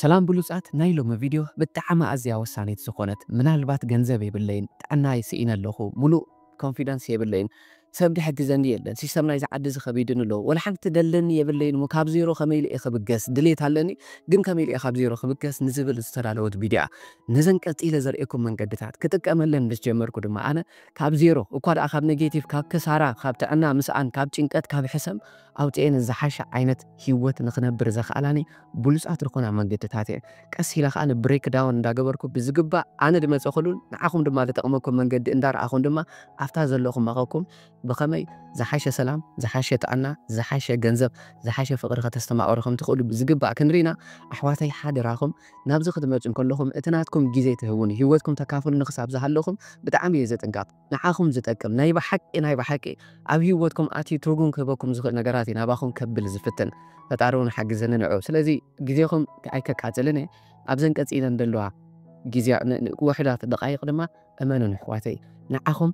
ሰላም ብሉጻት ናይ ሎሚ ቪድዮ ብጣዓሚ ኣዝያ ወሳኒት ዝኮነት ምናልባት ገንዘብ የብለይን ጥዕናይ ሲኢነ ኣለኩ ሙሉእ ኮንፊደንስ የብለይን ሰብ ድሕግዘኒ የለን ሲስተም ናይዚ ዓዲ እዚ ከቢድኒ ኣሎ ወላ ሓንቲ ትደለኒ የብለይን እሞ ካብ ዜሮ ከመይ ኢለ እየ ክብገስ ድሌት ኣለኒ ግን ከመይ ኢለ እየ ካብ ዜሮ ክብገስ ንዝብል ዝተዳለወት ቪድዮ እያ ነዘን ቀጺለ ዘርእየኩም መንገድታት ክጥቀመለን ምስ ጀመርኩ ድማ ኣነ ካብ ዜሮ እኳ ደኣ ካብ ነጌቲቭ ካብ ክሳራ ካብ ጥዕና ምስኣን ካብ ጭንቀት ካብ ሕሰም ኣውጺኤን ዝሓሸ ዓይነት ሂወት ንክነብር ዘክኣላኒ ብሉጻት ርኮና መንገድታት እየን ቀስ ኢለ ከኣ ብሬክ ዳውን እንዳገበርኩ ብዝግባእ ኣነ ድመጸኹሉን ንዓኹም ድማ ድጠቅመኩም መንገዲ እንዳረኣኹን ድማ ኣብታ ዘለኹማኸኩም ብኸመይ ዝሓሸ ሰላም ዝሓሸ ጥዕና ዝሓሸ ገንዘብ ዝሓሸ ፍቅሪ ከተስተማቅሩ ከምትኽእሉ ብዝግባእ ክንሪ ኢና ኣሕዋተይ ሓደራኹም ናብዚ ክትመጹ እንከለኹም እቲ ናትኩም ግዜ ትህቡኒ ሂወትኩም ተካፍሉኒ ክሳብ ዝሃለኹም ብጣዕሚ እየ ዘጥንቀቅ ንዓኹም ዝጠቅም ናይ ብሓቂ ናይ ብሓቂ ኣብ ሂወትኩም ኣትዩ ትርጉም ክህበኩም ዝኽእል ነገራት እዩ ናባኹም ከብል ዝፍትን ፈጣሪ ውን ሓግዘኒ ንዑ ስለዚ ግዜኹም ኣይከቃጽልን እየ ኣብዘን ቀጺለን ደለዋ ግዜ ውሑዳት ደቓይቕ ድማ እመኑኒ ኣሕዋተይ ንዓኹም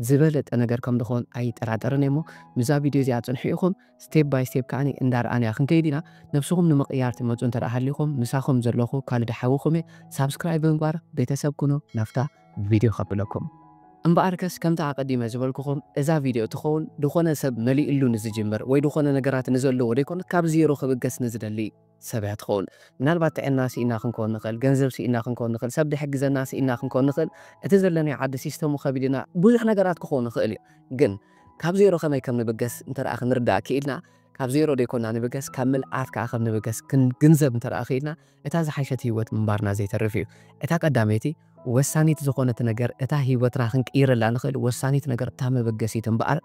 ዝበለጸ ነገር ከም ድኾን ኣይጠራጠርን እየ እሞ ምስዛ ቪድዮ እዚኣ ጽንሑ ኢኹም ስቴፕ ባይ ስቴፕ ከኣ እንዳርኣንያ ክንከይድ ኢና ነብስኹም ንምቕያር ትመጹ እንተ ሃሊኹም ምሳኹም ዘለኹ ካልድ ሓውኹም እየ ሳብስክራይብ ብምግባር ቤተሰብ ኩኑ ናፍታ ቪድዮ ከብለኩም። እምበኣርከስ ከምቲ ኣቐዲመ ዝበልኩኹም እዛ ቪድዮ ትኸውን ድኾነ ሰብ መሊእሉ ንዝጅምር ወይ ድኾነ ነገራት ንዘለዎ ደይኮነት ካብ ዜሮ ክብገስ ንዝደሊ ሰብ እያ ትኸውን። ምናልባት ጥዕና ስኢና ክንኮን ንኽእል፣ ገንዘብ ስኢና ክንኮን ንኽእል፣ ሰብ ድሕግዘና ስኢና ክንኮን ንኽእል፣ እቲ ዘለናዮ ዓዲ ሲስተሙ ከቢድና ብዙሕ ነገራት ክኾን ይኽእል እዩ። ግን ካብ ዜሮ ከመይ ከም ንብገስ እንተደኣ ክንርዳእ ክኢልና ካብ ዜሮ ደይኮና ንብገስ ካብ ምልኣት ከኣ ከም ንብገስ ክንግንዘብ እንተደኣ ክኢልና እታ ዝሓሸት ህይወት ምንባርና ዘይተርፍ እዩ። እታ ቀዳመይቲ ወሳኒት ዝኾነት ነገር እታ ህይወትና ክንቅይረላ ንኽእል ወሳኒት ነገር እታ መበገሲት እምበኣር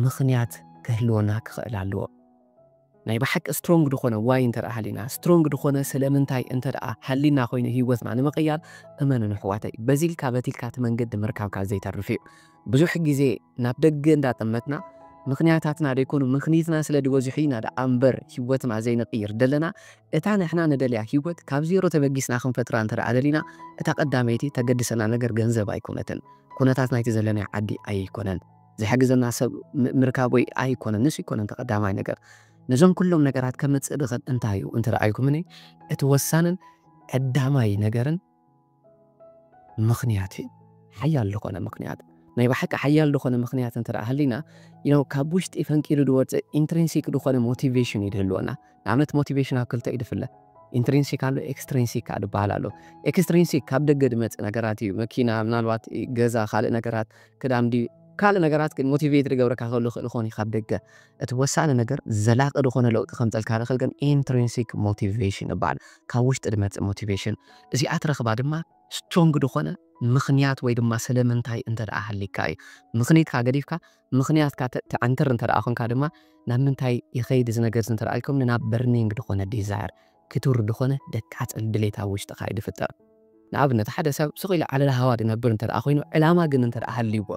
ምኽንያት ክህልወና ክኽእል ኣለዎ። ናይ ብሓቂ ስትሮንግ ዝኾነ ዋይ እንተደኣ ሃሊና ስትሮንግ ዝኾነ ስለምንታይ እንተደኣ ሃሊና ኮይኑ ህይወትና ንምቕያር እመኑን ኣሕዋተይ በዚ ኢልካ በቲ ኢልካ እቲ መንገዲ ምርካብካ ዘይተርፍ እዩ። ብዙሕ ግዜ ናብ ደገ እንዳጠመትና ምኽንያታትና ደይኮኑ ምኽኒትና ስለድበዝሑ ኢና ደኣ እምበር ህይወትና ዘይንቕይር ደለና። እታ ንሕና ንደልያ ህይወት ካብ ዜሮ ተበጊስና ክንፈጥራ እንተደኣ ደሊና፣ እታ ቀዳመይቲ እተገድሰና ነገር ገንዘብ ኣይኮነትን። ኩነታት ናይቲ ዘለናዮ ዓዲ ኣይኮነን። ዝሕግዘና ሰብ ምርካብ ወይ ኣይኮነን። ንሱ ኣይኮነን እቲ ቀዳማይ ነገር። ነዞም ኩሎም ነገራት ከምጽእ ዝኽእል እንታይ እዩ እንተደኣ ኢልኩምኒ፣ እቲ ወሳንን ቀዳማይ ነገርን ምኽንያት እዩ ሓያል ልኾነ ምኽንያት ናይ ብሓቂ ሓያል ልኾነ ምኽንያት እንተ ሃሊና ያው ካብ ውሽጢ ፈንቂሉ ድወፅእ ኢንትሪንሲክ ዝኾነ ሞቲቬሽን እዩ ድህልወና ንኣብነት ሞቲቬሽን ኣብ ክልተ እዩ ድፍለ ኢንትሪንሲክ ኣሎ ኤክስትሪንሲክ ከዓ ድበሃል ኣሎ ኤክስትሪንሲክ ካብ ደገ ድመፅእ ነገራት እዩ መኪና ምናልባት ገዛ ካልእ ነገራት ክዳም ድዩ ካልእ ነገራት ግን ሞቲቬት ድገብረካ ከሉ ክእል ኾን ካብ ደገ እቲ ወሳኒ ነገር ዘላቂ ዝኾነ ለውጢ ከምፀልካ ልኽእል ግን ኢንትሪንሲክ ሞቲቬሽን ይበሃል ካብ ውሽጢ ድመፅእ ሞቲቬሽን እዚኣ ትረኽባ ድማ ስትሮንግ ድኾነ ምኽንያት ወይ ድማ ሰለምንታይ እንተ ደኣ ሃሊካ እዩ። ምኽኒትካ ገዲፍካ ምኽንያትካ ተዕንትር እንተ ደኣ ኮንካ ድማ ናብ ምንታይ ይኸይድ እዚ ነገርዚ እንተ ደኣ ኢልኩምኒ ናብ በርኒንግ ድኾነ ዲዛየር ክቱር ድኾነ ደቃጽል ድሌት ኣብ ውሽጥኻ እዩ ድፍጠር። ንኣብነት ሓደ ሰብ ስቕ ኢሉ ዓለልሃዋ ድነብር እንተ ደኣ ኮይኑ ዕላማ ግን እንተ ደኣ ሃልይዎ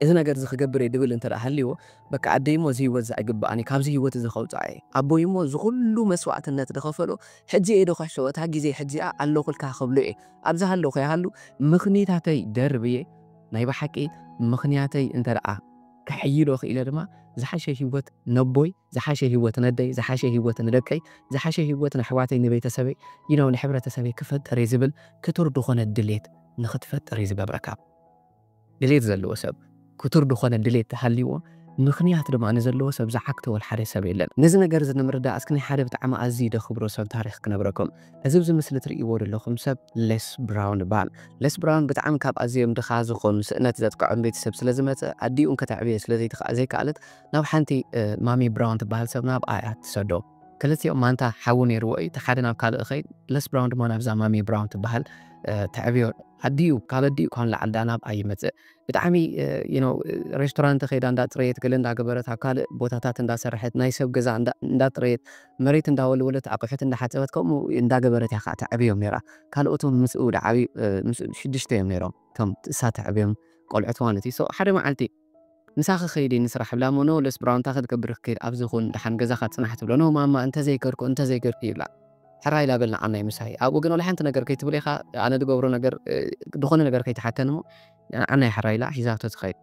እዚ ነገር እዚ ክገብር እየ ድብል እንተ ሃልይዎ በቃ ኣደይ እሞ እዚ ህይወት እዚ ኣይግበኣን እዩ ካብዚ ህይወት እዚ ከውፅኣ እየ ኣቦይ እሞ እዚ ኩሉ መስዋእትነት ዝኸፈሎ ሕጂ እየ ዶ ክሕሰቦ እታ ግዜ ሕጂኣ ኣለኹልካ ክብሎ እየ ኣብ ዝሃለኹ ይሃሉ ምኽኒታተይ ደርብየ ናይ ብሓቂ ምኽንያተይ እንተ ከሕይሎ ኽኢለ ድማ ዝሓሸ ህይወት ነቦይ ዝሓሸ ህይወት ነደይ ዝሓሸ ህይወት ንደቀይ ዝሓሸ ህይወት ነሕዋተይ ንቤተሰበይ you know ንሕብረተሰበይ ክፈጥር እየ ዝብል ክቱር ዝኾነ ድሌት ንኽትፈጥር እዩ ዝገብረካ። ድሌት ዘለዎ ሰብ፣ ክቱር ድኾነ ድሌት ተሃልይዎ፣ ምኽንያት ድማ ንዘለዎ ሰብ ዝዓግተወል ሓደ ሰብ የለን። ነዚ ነገር እዚ ንምርዳእ እስኪ ናይ ሓደ ብጣዕሚ ኣዝዪ ደኽብሮ ሰብ ታሪኽ ክነብረኩም። እዚ ኣብዚ ምስሊ ትርእይዎ ደለኹም ሰብ ሌስ ብራውን ይበሃል። ሌስ ብራውን ብጣዕሚ ካብ ኣዝዮም ድኻ ዝኾኑ ስእነት ዘጥቅዖም ቤተሰብ ስለ ዝመጸ ኣዲኡ እንከተዕብዮ ስለ ዘይትኽኣ ዘይከኣለት ናብ ሓንቲ ማሚ ብራውን ትበሃል ሰብ ናብኣ እያ ትሰዶ። ክልቲኦም ማንታ ሓዊ ነይርዎ እዩ እቲ ሓደ ናብ ካልእ ይኸይድ ለስ ብራውን ድማ ናብዛ ማሚ ብራውን ትበሃል ተዕብዮ ኣዲኡ ካብ ኣዲኡ ካብ ንላዕሊ ዳኣ ናብኣ ይመጽእ ብጣዕሚ ዩ ኖው ሬስቶራንት ከይዳ እንዳ ጽረየት ገለ እንዳገበረት ኣብ ካልእ ቦታታት እንዳሰርሐት ናይ ሰብ ገዛ እንዳጽረየት መሬት እንዳወልወለት ኣቑሑት እንዳሓጸበት ከምኡ እንዳገበረት እያ ከዓ ተዕብዮም ነይራ ካልኦቶም ምስኡ ድዓብዩ ምስኡ ሽዱሽተ እዮም ነይሮም እቶም እሳ ተዕብዮም ቆልዑት ማለት እዩ ሶ ሓደ መዓልቲ ምሳኺ ከይዲ ንስራሕ እብላ እሞ ኖ ለስ ብራው እንታይ ክትገብር ክትከይድ ኣብዚ ኩን ደሓን ገዛኻ ፅናሕ ትብሎ ኖ ማማ እንተዘይከድኩ እንተዘይገርኩ ይብላ ሕራይ ላበል ንዓናይ ምሳይ ኣብኡ ግን ወላ ሓንቲ ነገር ከይትብል ኢኻ ኣነ ዝገብሮ ነገር ዝኾነ ነገር ከይትሓተኒ እሞ ንዓናይ ሕራይ ኢላ ሒዛቶ ትኸይድ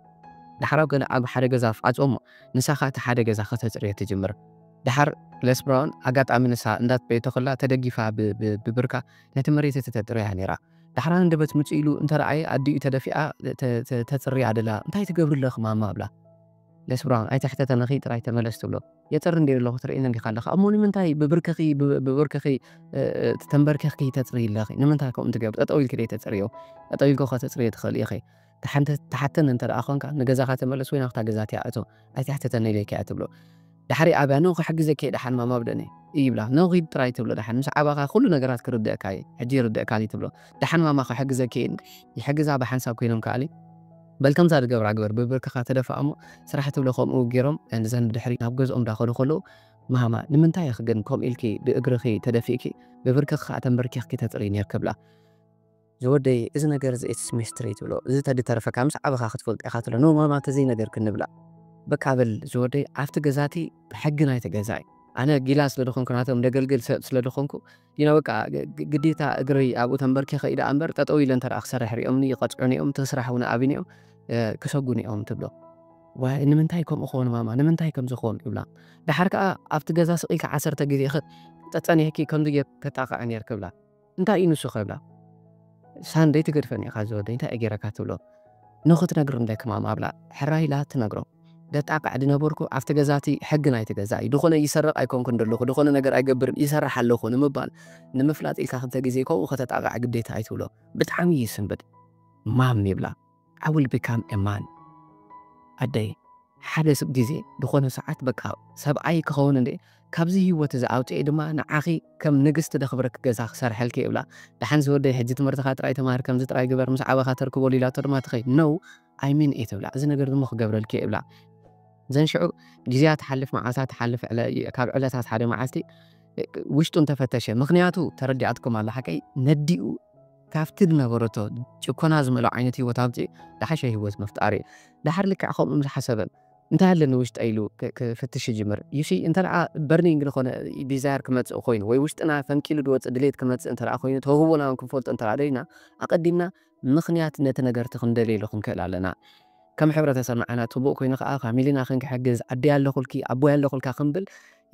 ዳሕራው ገለ ኣብ ሓደ ገዛ ኣፍዓፆ እሞ ንሳኻ እቲ ሓደ ገዛ ከተፅርዮ ትጅምር ዳሓር ለስ ብራውን ኣጋጣሚ ንሳ እንዳፅረየቶ ከላ ተደጊፋ ብብርካ ነቲ መሬት እቲ ተፅርያ ነይራ። ዳሕራ ሃንደበት ምጹ ኢሉ እንተ ረኣየ ኣዲኡ ተደፊኣ ተጽርያ ደላ እንታይ ትገብሪ ኣለኺ ማማ እብላ ለስብራ ኣይተሕተተንኺ ጥራይ ተመለስ ትብሎ የጽሪ እንድየ ደለኹ ትርእየኒ እንዲኻ ኣለኺ ኣሞ ንምንታይ ብብርክኺ ብብርክኺ ተንበርኪኽኪ ተጽርይ ኣለኺ ንምንታይ ከምኡ ትገብሪ ጠጠው ኢልኪ ደይ ተጽርዮ ጠጠው ኢልኪ ከተጽርዮ ትኽእሊ ኢኺ ትሓተኒ እንተ ደኣ ዄንካ፣ ንገዛኻ ተመለስ ወይ ናብታ ገዛቲኣ እቶ፣ ኣይትሕተተኒ ኢለይካ እየ ትብሎ። ድሕሪ ኣብያ ን ክሕግዘኪ እየ ደሓን ማማ ኣብ ደነይ እይ ይብላ። ን ኺድ ጥራይ ትብሎ ደሓን ምስ ዓበኻ ዅሉ ነገራት ክርድኣካ እየ፣ ሕጂ ይርድእካኒ ትብሎ። ደሓን ማማ ክሕግዘኪ እየ ን ይሕግዛ ብሓንሳብ ኰይኖም ከኣሊ። በል ከምዛ ዝገብራ ግበር ብብርክኻ ተደፋእ እሞ ስራሕ ትብሎ ከምኡ ገይሮም ን ዘን ብድሕሪት ናብ ገዝኦም ዳኸዱ ከለዉ ማማ ንምንታይ ኢኺ ግን ከምኡ ኢልኪ ብእግርኺ ተደፊእኪ ብብርክኺ ከኣ ተንበርኪኽኪ ተጥርዪ ኔርኪ ብላ። ዝወደይ እዚ ነገር እዚ ኢትስ ሚስትሪ ትብሎ እዚ ተዲ ተረፈካ ምስ ዓበኻ ክትፈልጦ ኢኻ ትብሎ ን ማማ ተዘይ ነገር ክንብላ በቃ በል ዝወደይ ኣብቲ ገዛ እቲ ብሕጊ ናይቲ ገዛ እዩ ኣነ ጊላ ስለ ድኾንኩ ናቶም ደገልግል ሰብ ስለ ድኾንኩ ዲና በቃ ግዴታ እግረይ ኣብኡ ተንበርኪኸ ኢዳ ኣምበር ጠጠው ኢለ እንተ ክሰርሕ ሪኦምኒ ይቐጽዑኒ እዮም እቲ ስራሕ እውን ኣብኒ እዮም ክሰጉኒ እዮም ትብሎ ዋይ ንምንታይ ከምኡ ክኾን ማማ ንምንታይ ከምዚ ክኾን ይብላ ድሓር ከዓ ኣብቲ ገዛ ስቕ ኢልካ ዓሰርተ ግዜ ጠጠኒሕኪ ከምዚ ጌር ከጣቕዐ ኔር ክብላ እንታይ እዩ ንሱ ክብላ ሳንደይ ትገድፈኒ ኢኻ ዝወደይ እንታይ እየ ጌረካ ትብሎ ንኽትነግርም ዳይ ክማማ ኣብላ ሕራይ ኢላ ትነግሮ ደጣቅዕ ድነበርኩ ኣብቲ ገዛ እቲ ሕጊ ናይቲ ገዛ እዩ ድኾነ ይሰርቅ ኣይኮንኩን ደለኹ ድኾነ ነገር ኣይገብርን ይሰርሕ ኣለኹ ንምባል ንምፍላጥ ኢልካ ክልተ ግዜ ከምኡ ከተጣቅዕ ግዴታ እዩ ትብሎ ብጣዕሚ ይስንብድ ማም ይብላ። I will become a man ኣደይ ሓደ ግዜ ዝኾነ ሰዓት በቃ ሰብኣይ ክኸውን እንድየ ካብዚ ሂወት እዚ ኣውጺኤ ድማ ንዓኺ ከም ንግስቲ ደኽብረኪ ገዛ ክሰርሐልኪ ይብላ ደሓን ዝወደይ ሕጂ ትምህርትኻ ጥራይ ተማሃር ከምዚ ጥራይ ግበር ምስ ዓበኻ ተርክበሉ ኢላቶ ድማ ትኸይድ no I mean it እብላ እዚ ነገር እዚ እሞ ክገብረልኪ እየ እብላ ዘን ሽዑ ግዜያ ትሓልፍ መዓልታት ትሓልፍ ካብ ዕለታት ሓደ መዓልቲ ውሽጡ እንተፈተሸ ምኽንያቱ ተረዲኣትኩም ኣላ ሓቀይ ነዲኡ ካብቲ ዝነበረቶ ጭኮና ዝመልኦ ዓይነት ህይወት ኣውጺኡ ዝሓሸ ህይወት ምፍጣር እዩ። ደሓር ልክዕ ከምኡ ምስ ሓሰበ እንታይ ኣለኒ ውሽጠይ ኢሉ ክፍትሽ ይጅምር። You see እንተደኣ በርኒንግ ዝኾነ ዲዛየር ክመጽእ ኮይኑ ወይ ውሽጥና ፈንቂሉ ዝወጽእ ድሌት ክመጽእ እንተደኣ ኮይኑ ተውህቦና ውን ክንፈልጦ እንተደኣ ደሊና ኣቐዲምና ምኽንያት ነቲ ነገር'ቲ ክንደልየሉ ክንክእል ኣለና። ከም ሕብረተሰብና ዓናት ህቡእ ኮይኑ ከኣ ፋሚሊና ክንክሕግዝ ኣደይ ኣለኹልኪ ኣቦይ ኣለኹልካ ክንብል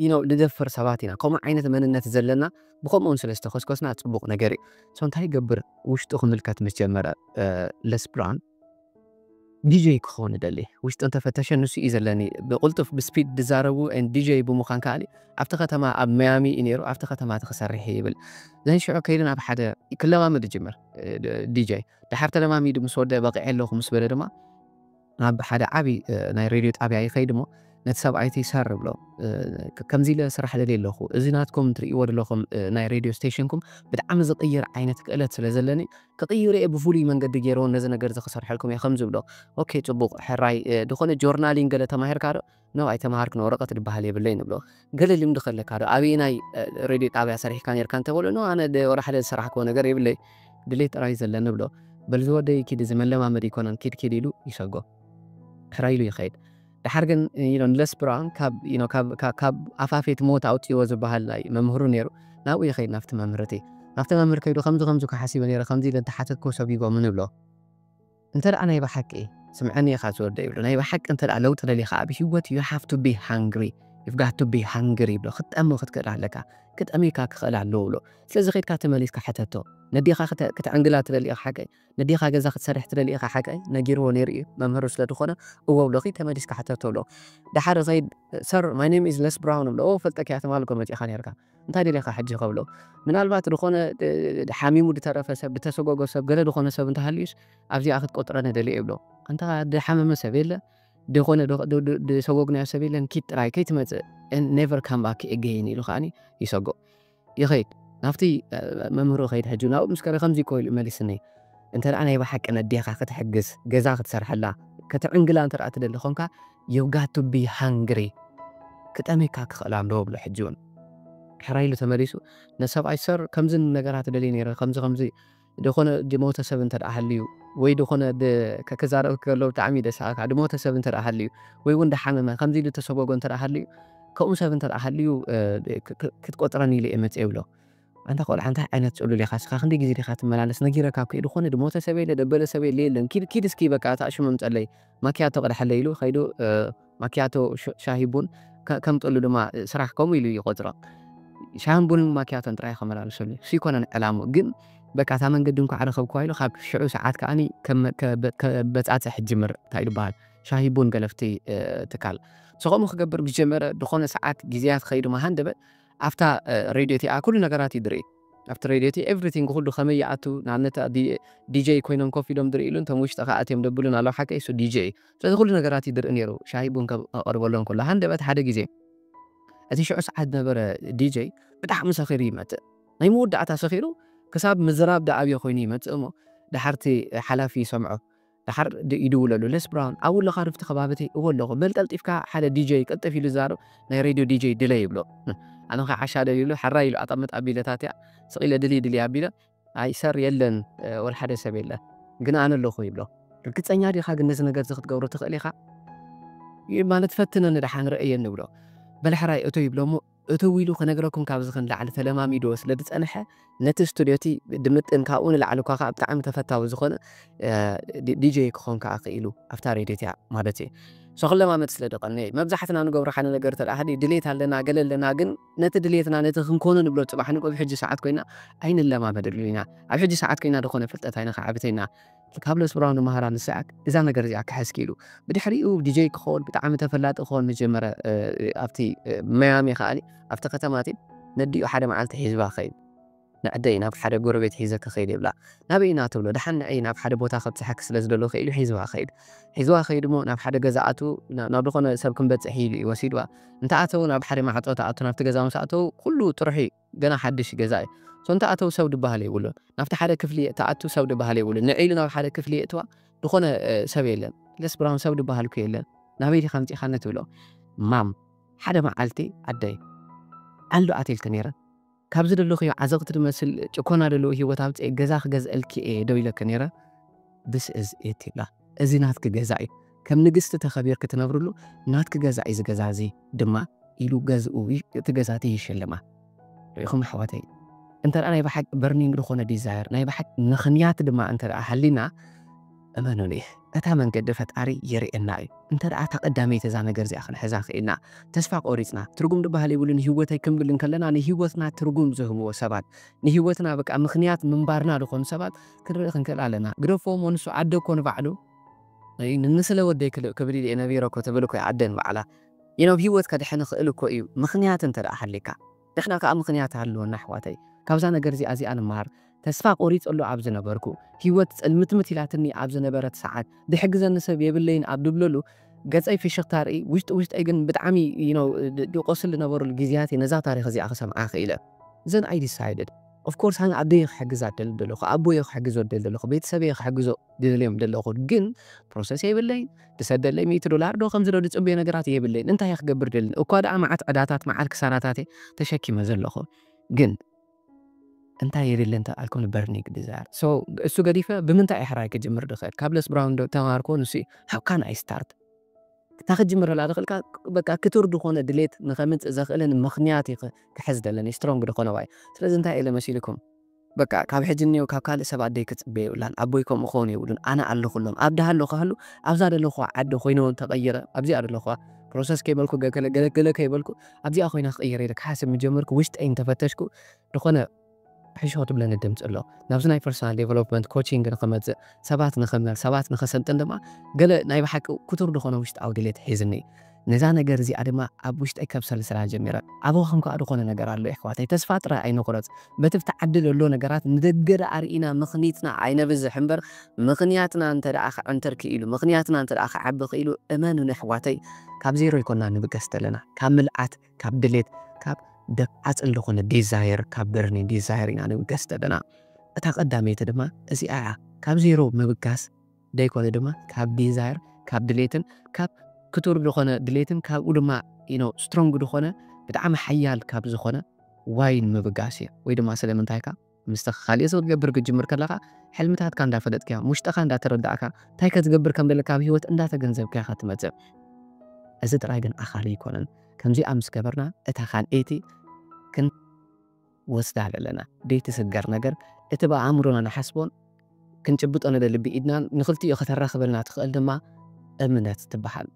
you know ንደፍር ሰባት ኢና ከምኡ ዓይነት መንነት ዘለና ብኸምኡውን ስለ ዝተኾስኮስና ጽቡቕ ነገር እዩ so እንታይ ይገብር ውሽጡ ክምልከት ምስ ጀመረ ለስ ብራን ዲጀይ ክኸውን ይደሊ ውሽጡ እንተፈተሸ ንሱ እዩ ዘለኒ ብቕልጡፍ ብስፒድ ዝዛረቡ ዲጀይ ብምዃን ከኣ ኣብቲ ከተማ ኣብ መያሚ እዩ ነይሩ ኣብቲ ከተማ እቲ ክሰርሕ ይብል ዘንሽዑ ከይዱ ናብ ሓደ ክለማመድ ይጅምር ዲጀይ ድሓር ተለማሚዱ ምስ ወደ በቒዐ ኣለኹ ምስ በለ ድማ ናብ ሓደ ዓብዪ ናይ ሬድዮ ጣብያ ይኸይድ እሞ ነቲ ሰብኣይቲ ሰር ብሎ ከምዚ ኢለ ስራሕ ደል ኣለኹ እዚ ናትኩም ትርእይዎ ዘለኹም ናይ ሬድዮ ስቴሽንኩም ብጣዕሚ ዝቕይር ዓይነት ክእለት ስለ ዘለኒ ክቕይሩ እየ ብፍሉይ መንገዲ ገይረዎ ነዚ ነገር እዚ ክሰርሐልኩም እየ ከም ዝብሎ ኦኬ ፅቡቕ ሕራይ ዝኾነ ጆርናሊን ገለ ተማሂርካ ዶ ኖእ ኣይተማሃርክን ወረቀት ድባሃል የብለይን እብሎ ገለ ልምዲ ከለካ ዶ ኣበየናይ ሬድዮ ጣብያ ሰሪሕካ ነርካ እንተበሎ ኖእ ኣነ ወላ ሓደ ዝሰራሕክዎ ነገር የብለይ ድሌት ጥራይ እዩ ዘለኒ እብሎ በል ዝወደይ ኪድ እዚ መለማመዲ ኣይኮነን ኪድ ኪድ ኢሉ ይሰጎ ሕራይ ኢሉ ይኸይድ ደሓር ግን ዩ ንለስ ብራውን ካብ ኣፋፌት ሞት ኣውፅዎ ዝበሃል ናይ መምህሩ ነይሩ ናብኡ ይኸይድ ናብቲ መምህር እቲ ናብቲ መምህር ከይዱ ከምዚ ከምዚ እኮ ሓሲበ ነይረ ከምዚ ኢለ እንተሓተትክዎ ሰጒጎምኒ እብሎ እንተ ናይ ብሓቂ ስምዐኒ ኢኻ ዝወደይ ይብሎ ናይ ብሓቂ እንተ ለውጢ ደሊኻ ኣብ ሂወት you have to be hungry you've got to be hungry ይብሎ ክትጠሚ ክትክእል ኣለካ ክጠምዩካ ክኽእል ኣለዎ ይብሎ ስለዚ ከድካ ተመሊስካ ሕተቶ ነዴኻ ክትዕንግላ ትደሊ ኢኻ ሓቀይ ነዴኻ ገዛ ክትሰርሕ ትደሊ ኢኻ ሓቀይ ነጊርዎ ነይሩ እዩ መምህሩ ስለ ዝኾነ እዎ ብሎ ኺድ ተመሊስካ ሕተቶ ብሎ ደሓር ኸይድ ሰር ማይ ኔም ኢዝ ለስ ብራውን ብሎ እዎ ፈልጠኪ እያ ትማል እኮ መጺእኻ ነይርካ እንታይ ደሊኻ ሕጂ ከብሎ ምናልባት ድኾነ ሓሚሙ ድተረፈ ሰብ ድተሰጎጎ ሰብ ገለ ድኾነ ሰብ እንተሃልዩስ ኣብዚኣ ክትቆጽረኒ ደልየ ይብሎ ኣንታ ድሓመመ ሰብ የለ ድኾነ ድሰጎግናዮ ሰብ የለን ኪድ ጥራይ ከይትመጽእ and never come back again ኢሉ ከኣኒ ይሰጎ ይኸይድ ናብቲ መምህሩ ይኸይድ ሕጂ ናብኡ ምስ ከደ ከምዚ እኮ ኢሉ መሊስኒ እንተ ናይ ብሓቂ ነዴኻ ክትሕግዝ ገዛ ክትሰርሐላ ክትዕንግላ እንተ ትደሊ ኮንካ You've got to be hungry ክጠምየካ ክኽእል ኣለዎ እብሎ ሕጂ ውን ሕራይ ኢሉ ተመሊሱ ነቲ ሰብኣይ Sir ከምዚ ነገራት እደሊ ነይረ ከምዚ ከምዚ ድኾነ ድሞተ ሰብ እንተድኣ ሃልዩ ወይ ድኾነ ብ ክዛረብ ከሎ ብጣዕሚ ደስ ኣካ ድሞተ ሰብ እንተድኣ ሃልዩ ወይ ውን ድሓመመ ከምዚ ኢሉ ድተሰጎጎ እንተድኣ ሃልዩ ከምኡ ሰብ እንተድኣ ሃልዩ ክትቆጽረኒ ኢለ እየ መጽየ እብሎ። ኣንታ ቆልዓ እንታይ ዓይነት ጽሉል ኢኻ እስኻ ክንደይ ግዜ ዲኻ ትመላለስ ነጊረካ እኮ ኢየ ድኾነ ድሞተ ሰብ የለ ደበለ ሰብ የለ የለን ኪድ ኪድ እስኪ በቃ እታ ሽም ኣምጸለይ ማክያቶ ቅደሓለይ ኢሉ ከይዱ ማክያቶ ሻሂ ቡን ከምጠሉ ድማ ስራሕ ከምኡ ኢሉ ይቆጽሮ ሻሂን ቡንን ማክያቶን ጥራይ ከመላልሰሉ እሱ ይኮነን ዕላሙ ግን በቃ እታ መንገዲ እንኳዕ ረኸብኩዋ ኢሉ ካብ ሽዑ ሰዓት ከዓኒ ከበጻጽሕ ጅምር እንታይ ድበሃል ሻሂ ቡን ገለፍቲ ትካል ሰኸምኡ ክገብር ምስ ጀመረ ድኾነ ሰዓት ግዜያት ከይዱ መሃንደበ ኣብታ ሬድዮ እቲኣ ኩሉ ነገራት እዩ ድርኢ። ኣብቲ ሬድዮ እቲ ኤቭሪቲንግ ኩሉ ከመይ ይኣቱ ንኣብነት ዲጀይ ኮይኖም ኮፍ ኢሎም ድርእይሉን እቶም ውሽጢ ከኣ ኣትዮም ደብሉን ኣለዉ ሓቀይ እሱ ዲጀይ እዩ። ስለዚ ኩሉ ነገራት እዩ ድርኢ ነይሩ ሻሂ ቡን ከቕርበሎም ከሎ። ሃንደበት ሓደ ግዜ እቲ ሽዑ ሰዓት ዝነበረ ዲጀይ ብጣዕሚ ሰኺሩ ይመጽእ። ናይ መወዳእታ ሰኺሩ ክሳብ ምዝራብ ደኣ ኣብዮ ኮይኑ ይመጽእ እሞ ደሓር እቲ ሓላፊ ይሰምዖ። ደሓር ይድውለሉ ለስ ብራውን ኣብኡ ኣለኻ ዶ ኣብቲ ከባቢቲ እወ ኣለኹ በል ቀልጢፍካ ሓደ ዲጀይ ቅልጥፍ ኢሉ ዝዛረብ ናይ ሬድዮ ዲጀይ ድለ ይብሎ ኣነኸ ዓሻ ደልዩ ኢሉ ሓራይ ኢሉ ኣጠምጥ ኣቢለ ታትያ ስቕ ኢለ ድልይ ድልይ ኣቢለ ኣይ ሰር የለን ወላ ሓደ ሰብ የለን ግን ኣነ ኣለኹ ይብሎ ርግፀኛ ዲኻ ግን ነዚ ነገር እዚ ክትገብሮ ትኽእል ኢኻ ማለት ፈትነኒ ደሓን ርእየኒ ይብሎ በል ሕራይ እቶ ይብሎ እሞ እትው ኢሉ ክነግረኩም ካብዚ ክንላዕሊ ተለማሚድዎ ስለ ዝጸንሐ ነቲ ስቱድዮ እቲ ድምጥን ካብኡ ንላዕሊ እኳ ከኣ ብጣዕሚ ተፈታዊ ዝኾነ ዲጀይ ክኾን ከኣ ክኢሉ ኣብታ ሬድዮ እቲኣ ማለት እየ so ክለማመድ ስለ ዝቐነየ እዩ መብዛሕትና ንገብሮ ሓደ ነገር እንተ ሃልዩ ድሌት ኣለና ገለ ኣለና ግን ነቲ ድሌትና ነቲ ክንኮኖ ንብሎ ጽባሕ ንግሆ ኣብ ሕጂ ሰዓት ኮይና ኣይንለማመደሉን ኢና ኣብ ሕጂ ሰዓት ኮይና ዝኾነ ፍልጠት ኣይነኻዕብትን ኢና ካብ ለስብራዊ ንመሃራ ንስዕብ እዛ ነገር እዚኣ ክሕዝኪ ኢሉ ብድሕሪኡ ዲጀይ ክኾን ብጣዕሚ ተፈላጢ ክኾን ምስ ጀመረ ኣብቲ መያሚ ከኣ ኣብቲ ከተማ እቲ ነዲኡ ሓደ መዓልቲ ሒዝዋ ከይዱ ንዕደይ ናብ ሓደ ጎረቤት ሒዘ ክኸይድ ይብላ ናበይ ኢና ትብሎ ደሓን ንዕይ ናብ ሓደ ቦታ ከብጽሐኪ ስለ ዝደለኹ ኢሉ ሒዝዋ ከይዱ ሒዝዋ ከይዱ እሞ ናብ ሓደ ገዛ ኣቱ ናብ ዝኾነ ሰብ ክንበጽሕ ኢሉ እዩ ወሲድዋ እንተኣተው ናብ ሓደ ማዕጾ ተኣቱ ናብቲ ገዛ ምስ ኣተው ኩሉ ጥሩሕ እዩ ገና ሓድሽ ገዛ እዩ ሶንታ ኣተው ሰው ድባሃል የብሉን ናብቲ ሓደ ክፍሊ ትኣቱ ሰው ድባሃል የብሉን ንዕ ኢሉ ናብ ሓደ ክፍሊ የእትዋ ድኾነ ሰብ የለን ለስ ብራውን ሰው ድባሃል እኮ የለን ናበይ ዲኻ ኣምጺኻኒ ትብሎ ማም ሓደ መዓልቲ ኣደይ ዓልዶ ኣትልኪ ነይረ ካብ ዝደለኽዮ ዓዘቕቲ ድመስል ጭኮና ደለዎ ሂወት ኣውጽኤ ገዛ ክገዝእልኪ እየ ዶ ኢለኪ ነይረ This is Etila እዚ ናትኪ ገዛ እዩ ከም ንግስቲ ተኸቢርኪ ትነብርሉ ናትኪ ገዛ እዩ እዚ ገዛ እዚ ድማ ኢሉ ገዝኡ እቲ ገዛ እቲ ይሽልማ። ርኢኹም ኣሕዋተይ እንተ ናይ ብሓቂ በርኒንግ ዝኾነ ዲዛየር ናይ ብሓቂ ምኽንያት ድማ እንተ ሃሊና እመኑኒ እታ መንገዲ ፈጣሪ የርእየና እዩ እንተ እታ ቀዳመይቲ እዛ ነገር እዚኣ ክንሕዛ ክኢልና ተስፋ ቆሪፅና ትርጉም ድበሃል የብሉን ሂወተይ ክንብል እንከለና ንሂወትና ትርጉም ዝህብዎ ሰባት ንሂወትና በቃ ምኽንያት ምንባርና ዝኾኑ ሰባት ክንርኢ ክንክእል ኣለና ግደፎ እሞ ንሱ ዓዲ እኮ ንባዕሉ ንስለ ወደይ ክልእ ክብል ኢየ ነቢረ እኮ ትብል እኮ እያ ኣደ ንባዕላ you know ሂወት ከድሕን ይክእል እኮ እዩ ምክንያት እንተ ሃልይካ ንሕና ክኣ ምክንያት ሃልወና ኣሕዋተይ ካብዛ ነገር እዚኣ እዚኣ ንማሃር ተስፋ ቆሪጸሉ ኣብ ዝነበርኩ ሂወት ጽልምትምት ኢላትኒ ኣብ ዝነበረት ሰዓት ድሕግዘኒ ሰብ የብለይን ኣብ ድብለሉ ገጸይ ፍሽኽታ ርኢ ውሽጢ ውሽጠይ ግን ብጣዕሚ you know ድቆስል ዝነበረሉ ግዝያት እየ ነዛ ታሪኽ እዚኣ ክሰምዓ ክኢለ then I decided Of course ኣነ ኣደይ እየ ክሕግዛ ዝደሊ ዘለኩ ኣቦይ እየ ክሕግዞ ዝደሊ ዘለኩ ቤተሰበይ እየ ክሕግዞ ዝደልዮም ዘለኩ ግን ፕሮሰስ የብለይን ዝሰደለይ ሚእቲ ዶላር ዶ ከምዚ ዶ ዝጽበዮ ነገራት የብለይን እንታይ እየ ክገብር ደሊ እኳ ደኣ መዓት ዕዳታት መዓት ክሳራታት እየ ተሸኪመ ዘለኩ ግን እንታይ የድሊ እንተ ኣልኩ ን Burning Desire so እሱ ገዲፈ ብምንታይ እየ ሕራይ ክጅምር ዝክእል ካብ Les Brown ዶ ተማሃርኩ ንሱ እዩ how can I start እታ ክትጅምረላ ዝኽእልካ በቃ ክቱር ዝኾነ ድሌት ንኸምጽእ ዘኽእልን ምኽንያት እዩ ክሕዝ ደለኒ ስትሮንግ ዝኾነ ዋይ ስለዚ እንታይ ኢለ መሲልኩም በቃ ካብ ሕጂ ንኔው ካብ ካልእ ሰብ ኣደይ ክትጽበ የብላን ኣቦይ ከምኡ ክኸውን የብሉን ኣነ ኣለኹሎም ኣብ ድሃሉ ክሃሉ ኣብዛ ደለኹዋ ዓዲ ኮይነ ውን ተቐይረ ኣብዚኣ ደለኹዋ ፕሮሰስ ከይበልኩ ገለ ገለ ከይበልኩ ኣብዚኣ ኮይነ ክቕይር ኢለ ክሓስብ ምጀመርኩ ውሽጠይ እንተፈተሽኩ ዝኾነ ሕሾ ትብለኒ ድምጺ ኣሎ። ናብዚ ናይ ፐርሰናል ደቨሎፕመንት ኮቺንግ ንኽመጽእ፣ ሰባት ንኽምህር፣ ሰባት ንኸሰልጥን ድማ ገለ ናይ ብሓቂ ክቱር ዝኾነ ውሽጣዊ ድሌት ሒዝኒ። ነዛ ነገር እዚኣ ድማ ኣብ ውሽጠይ ከብሰልስላ ጀሚረ። ኣበኹም ከኣ ዝኾነ ነገር ኣሎ የሕዋተይ። ተስፋ ጥራይ ኣይንቑረጽ። በቲ ኣብቲ ዓዲ ዘሎ ነገራት ንደገ ደኣ ርኢና ምኽኒትና ኣይነብዝሕ እምበር ምኽንያትና እንተ ደኣ ክዕንትር ክኢሉ፣ ምኽንያትና እንተ ደኣ ክዓቢ ክኢሉ እመኑኒ የሕዋተይ ካብ ዜሮ ኣይኮናን ንብገስ ዘለና ካብ ምልኣት ካብ ድሌት ካብ ደፍዓ ጽን ዝኾነ ዲዛየር ካብ በርኒ ዲዛየር ኢና ንብገስ ዘለና እታ ቀዳመይቲ ድማ እዚኣ እያ ካብ ዜሮ ምብጋስ ደይኮነ ድማ ካብ ዲዛየር ካብ ድሌትን ካብ ክቱር ዝኾነ ድሌትን ካብኡ ድማ ኢኖ ስትሮንግ ዝኾነ ብጣዕሚ ሓያል ካብ ዝኾነ ዋይን ምብጋስ እየ ወይ ድማ ስለምንታይካ ምስቲ ካልእ ሰብ ክትገብር ክትጅምር ከለኻ ሕልምታትካ እንዳፈለጥካ ውሽጥኻ እንዳተረዳእካ እንታይ ከትገብር ከም ዘለካ ኣብ ህይወት እንዳተገንዘብካ ኢኻ ትመጽእ እዚ ጥራይ ግን ኣኻሊ ኣይኮነን ከምዚኣ ምስ ገበርና እታ ካልኣይቲ ክን ወስዳ ዘለና ዘይትስገር ነገር እቲ ብኣእምሮና ንሓስቦን ክንጭብጦ ንደሊ ብኢድናን ንኽልቲኡ ከተራኽበልና ትኽእል ድማ እምነት ትበሃል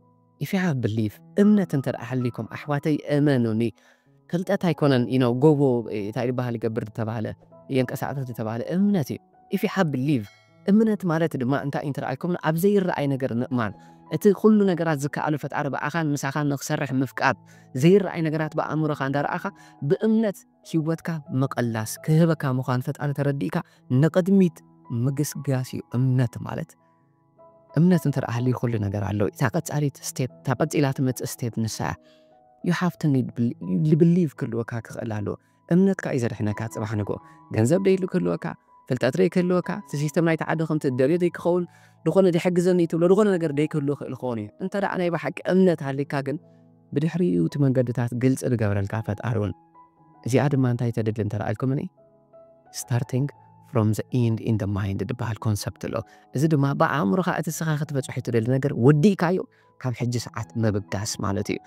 ኢፍ ዩ ሃቭ ብሊቭ እምነት እንተ ሃልይኩም ኣሕዋተይ እመኑኒ ፍልጠት ኣይኮነን ዩ ኖው ጎቦ ታይ ድበሃል ይገብር ድተባህለ የንቀሳቅስ ድተባህለ እምነት ዩ ኢፍ ዩ ሃቭ ብሊቭ እምነት ማለት ድማ እንታይ ዩ እንተረኣይኩምኒ ኣብ ዘይረኣይ ነገር ምእማን እቲ ኩሉ ነገራት ዝከኣሎ ፈጣሪ ብኣኻን ምሳኻን ንኽሰርሕ ምፍቃድ ዘይረኣይ ነገራት ብኣእምሮኻ እንዳረኣኻ ብእምነት ሂወትካ ምቕላስ ክህበካ ምዃኑ ፈጣሪ ተረዲእካ ንቕድሚት ምግስጋስ ዩ እምነት ማለት። እምነት እንተ ደኣ ሃልዩ ኩሉ ነገር ኣሎ። እታ ቀጻሊት step እታ ቀጺላ ትመጽእ step ንሳ እያ። You have to need believe believe ክህልወካ ክኽእል ኣለዎ። እምነትካ እዩ ዘድሕነካ ጽባሕ ንግሆ። ገንዘብ ደይሉ ክህልወካ፣ ፍልጠት ደይክህልወካ፣ እቲ ሲስተም ናይቲ ዓዲ ከምቲ እትደልዮ ደይክኸውን፣ ዝኾነ ድሕግዘኒ እትብሎ ዝኾነ ነገር ደይክህሉ ይኽእል ክኸውን እዩ። እንተ ደኣ ናይ ብሓቂ እምነት ሃልዩካ ግን ብድሕሪኡ እቲ መንገድታት ግልጺ ዝገብረልካ ፈጣሪ እውን እዚኣ ድማ እንታይ ተድሊ እንተ ደኣ ኢልኩምኒ፣ Starting from the end in the mind ዝበሃል ኮንሰፕት ኣሎ። እዚ ድማ ብኣእምሮኻ እቲ እስኻ ክትበጽሖ እትደሊ ነገር ወዲእካዮ ካብ ሕጂ ሰዓት ምብጋስ ማለት እዩ።